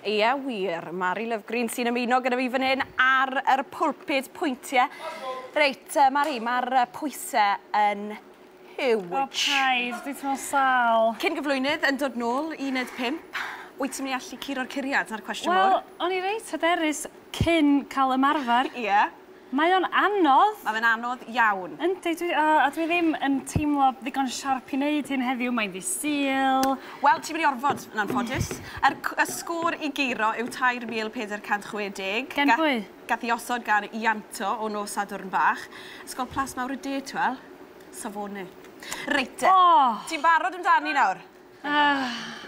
Ie, wir, Mari Lovgreen sy'n ymuno gyda fi fan hyn ar yr pulpud pwyntiau. Reit, uh, Mari, mae'r uh, pwysau yn huge. O, paid, dwi'n teimlo sal. Cyn gyflwynydd yn dod nôl i wneud pimp, wyt ti'n mynd i allu curo'r curiad na'r cwestiwn mor? Wel, o'n i reit hyderus cyn cael ymarfer. Ie. Yeah. Mae o'n anodd! Mae fe'n anodd iawn. Yndi, dwi, o, a dwi ddim yn teimlo ddigon siarp i wneud hyn heddiw, mae'n ddydd Sul. Wel, ti'n mynd i orfod, yn anffodus. Yr, y sgôr i guro yw 3,460. Gan pwy? Gath i osod gan Ianto o nos Sadwrn Fach. Ysgol Plas Mawr y De, t'wel? Safone. Reit te. O! Ti'n barod amdani nawr?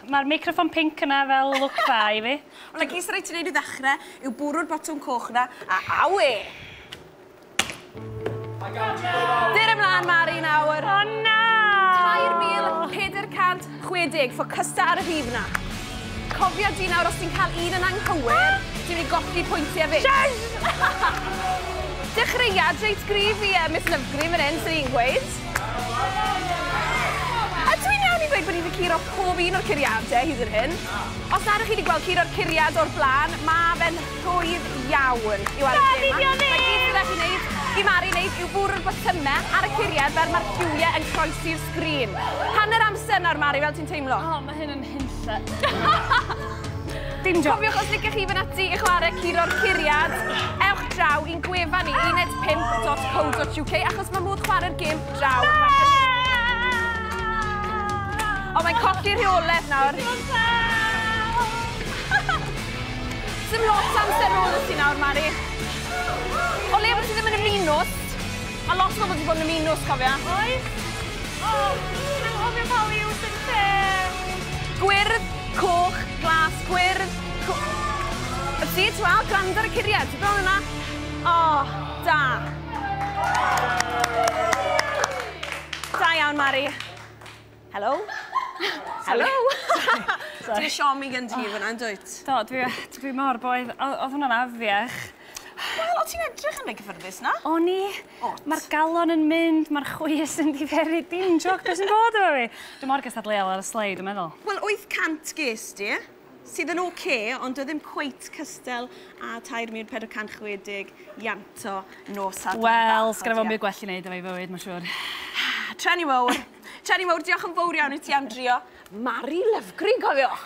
Mae'r meicroffon pinc yna fel lwc dda i fi. Ond y ges rhaid ti wneud i ddechrau yw bwrw'r botwm coch yna, a awe! Dur ymlaen, Mari, nawr. O na! 3,460, ffocysta ar y rhif yna. Cofia di nawr, os ti'n cael un yn anghywir, ti'n mynd i golli pwyntiau fyd. Yes! Dechreuad reit gryf i Miss Lovegream yn hyn, sy'n i'n gweud. Ydw i'n iawn i ddweud bod ni wedi curo pob un o'r curiadau hyd yn hyn? Os nad ydych chi wedi gweld curo'r curiad o'r blaen, mae fe'n rhwydd iawn i'w aros lle 'ma. Rhaid i ni o neud! Mae'r gyd sydd 'da chi wneud, i Mari wneud, yw bwrw'r botymau ar y curiad fel mae'r lliwiau yn croesi'r sgrin. Hanner amser nawr, Mari, fel ti'n teimlo? Mae hyn yn hunlle. Dim joc. Cofiwch os licech chi fynd ati i chwarae curo'r curiad, ewch draw i'n gwefan ni, uned5.co.uk, achos mae modd chwarae'r gêm draw. O, mae'n colli rheolaeth nawr. Dim lot amser ôl ysdi nawr, Mari. O leia bod ti ddim yn ymuno, Ma lot o bobl 'di bod yn y minws cofia. Oes? O! Dwi'n anghofio pa liw sy'n lle! Gwyrdd, coch, glas, gwyrdd, co-. Wt ti? Ti weld? Gwrando ar y curiad. Ti bron yna. O! Da. Da iawn Mari. Helo! Helo! Sorry. Ti'n siomi gen ti fyna, yn dwyt? Do, dwi, dwi mor boeth. Oedd hwnna'n afiach. Wel, o ti'n edrych yn ei gyffyrddus na? O ni. Mae'r galon yn mynd, mae'r chwys yn diferu, dim joc beth sy'n bod efo fi. Dwi mor gystadleuol ar y sleid, dwi'n meddwl. Wel, 800 ges di, sydd yn OK, ond oedd ddim cweit cystel a 3,460 ianto nos Sadwrn. Wel, sgan i fod yn byd gwell i wneud efo'i fywyd, mae'n siŵr. Treni mowr. Ceri mawr, diolch yn fowr iawn i ti am drio. Mari Lyfgri, cofiwch!